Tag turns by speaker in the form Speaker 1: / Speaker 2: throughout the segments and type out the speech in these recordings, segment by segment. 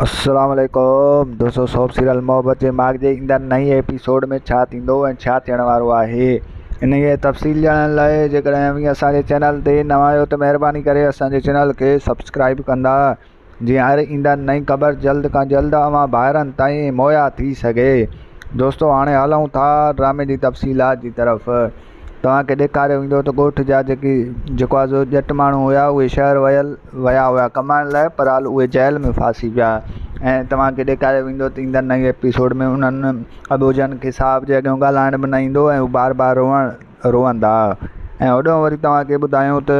Speaker 1: السلام عليڪم دوستو سوپ سيريل محبت جي ماڳ جي ايندڙ نئين ايپيسوڊ ۾ ڇا ٿيندو ۽ ڇا ٿيڻ وارو آهي انهي جي تفصيل ڄاڻڻ لاء جيڪڏهن اوهين اسان جي چينل تي نوان آهيو ته مهرباني ڪري اسان جي چينل کي سبسڪرائيب ڪندا جيئن هر ايندڙ نئين خبر جلد کان جلد اوهان ڀائرن تائين مهيا ٿي سگهي دوستو هاڻي هلون ٿا ڊرامي جي تفصيلات جي طرف توهان کي ڏيکاريو ويندو ته ڳوٺ جا جيڪي جيڪو آ سو ڄٽ ماڻهو هيا اهي شهر ويل ويا هيا ڪمائڻ لاء پر حال اهي جيل ۾ ڦاسي پيا ۽ توهان کي ڏيکاريو ويندو ته ايندڙ نئين ايپيسوڊ ۾ انهن اٻوجهن کي صاحب جي اڳيان ڳالهائڻ به نه ايندو ۽ هو بار بار روئڻ روئندا ۽ هوڏانهن وري توهان کي ٻڌايون ته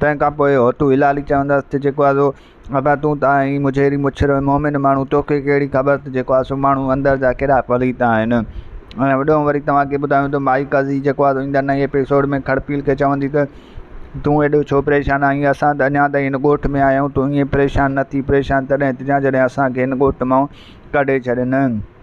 Speaker 1: تنهن کان پوء هوتو هلالي چوندس ته جيڪو آسو ابا تون ته آهين مجهيري مڇر ۽ مومن ماڻهو توکي ڪهڙي خبر ته جيڪو آسو ماڻهو اندر جا ڪهڙا پليت آهن ۽ هوڏانهن وري توهان کي ٻڌايون ته مائي قاضي جيڪو آسو ايندڙ نئين ايپيسوڊ ۾ کڙپيل کي چوندي ته تون ايڏو ڇو پريشان آهين اسان ته اڃا تائين هن ڳوٺ ۾ آهيون تون ائين پريشان نه ٿي پريشان تڏهن ٿيجان جڏهن اسان کي هن ڳوٺ مان ڪڍي ڇڏين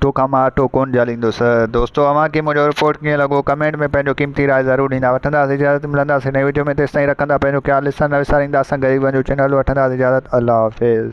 Speaker 1: ٽوڪا مان اٽو ڪونه جهليندس. دوستو اوهان کي منهنجو رپورٽ ڪيئن لڳو ڪمينٽ ۾ پنهنجو قيمتي راء ضرور ڏيندا وٺنداس اجازت ملنداسين نئين وڊيو ۾ تيستائين رکندا پنهنجو خيال ڏسڻ نه وسارينداسن غريبن جو چينل وٺنداس اجازت الله حافظ.